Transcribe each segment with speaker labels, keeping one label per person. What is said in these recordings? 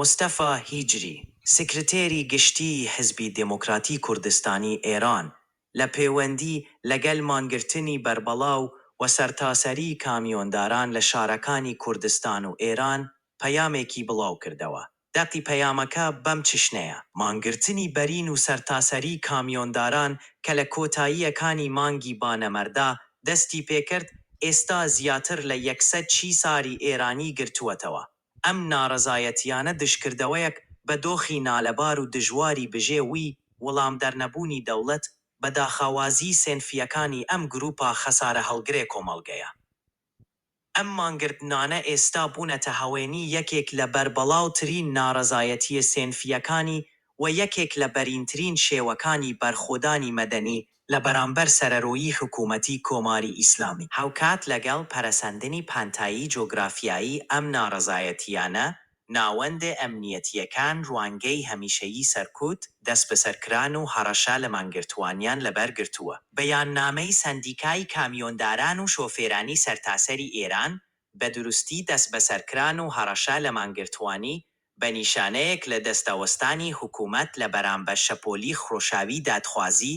Speaker 1: مستەفا هیجری، سکرتێری گشتیی حیزبی دێموکراتی کوردستانی ئێران، لە پێوەندی لەگەل مانگرتنی بەربەڵاو و سەرتاسەریی کامیۆنداران لە شارەکانی کوردستان و ئێران پەیامێکی بڵاو کردەوە. دەقی پەیامەکە بەم چشنەیە، مانگرتنی بەرین و سەرتاسەریی کامیۆنداران کە لە کۆتاییەکانی مانگی بانەمەردا دەستی پێکرد، ئێستا زیاتر لە یەک سەد چیساری ئێرانی گرتووەتەوە. ئەم نارەزایەتیانە دژکردەوەیەک بە دۆخی نالەبار و دژواری بژێ وی وڵامدەرنەبوونی دەوڵەت بە داخاوازیی سێنفییەکانی ئەم گرووپە خەسارەهەڵگرێ کۆمەڵگەیە. ئەم مانگرتنانە ئێستا بوونەتە هەوێنی یەکێک لە بەربڵاو ترین نارەزایەتییە سێنفییەکانی و یەکێک لە بەرینترین شێوەکانی بەرخۆدانی مەدەنی لە بەرامبەر سەرەرۆیی حکوومەتی کۆماری ئیسلامی. هاوکات لەگەڵ پەرەسەندنی پانتایی جۆگرافیایی ئەم ناڕەزایەتییانە، ناوەندە ئەمنییەتییەکان ڕوانگەی هەمیشەیی سەرکوت، دەسبەسەرکران و هەڕەشە لە مانگرتووانیان لەبەر گرتووە. بەیاننامەی سەندیکای کامیۆنداران و شۆفێرانی سەرتاسەری ئێران بە دروستی دەسبەسەرکران و هەڕەشە لە مانگرتووانی بە نیشانەیەک لە دەستەوەستانی حکوومەت لە بەرامبەر شەپۆلی خرۆشاوی دادخوازی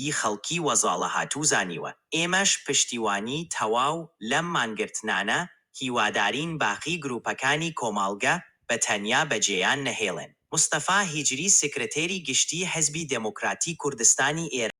Speaker 1: ی خەڵکی وەزاڵەهاتوو زانیوە. ئێمەش پشتیوانی تەواو لەم مانگرتنانە هیوادارین باقی گرووپەکانی کۆماڵگە بە تەنیا بە جێیان نەهێڵێن. مستەفا هیجری سکرتێری گشتیی حیزبی دێموکراتی کوردستانی ئێران.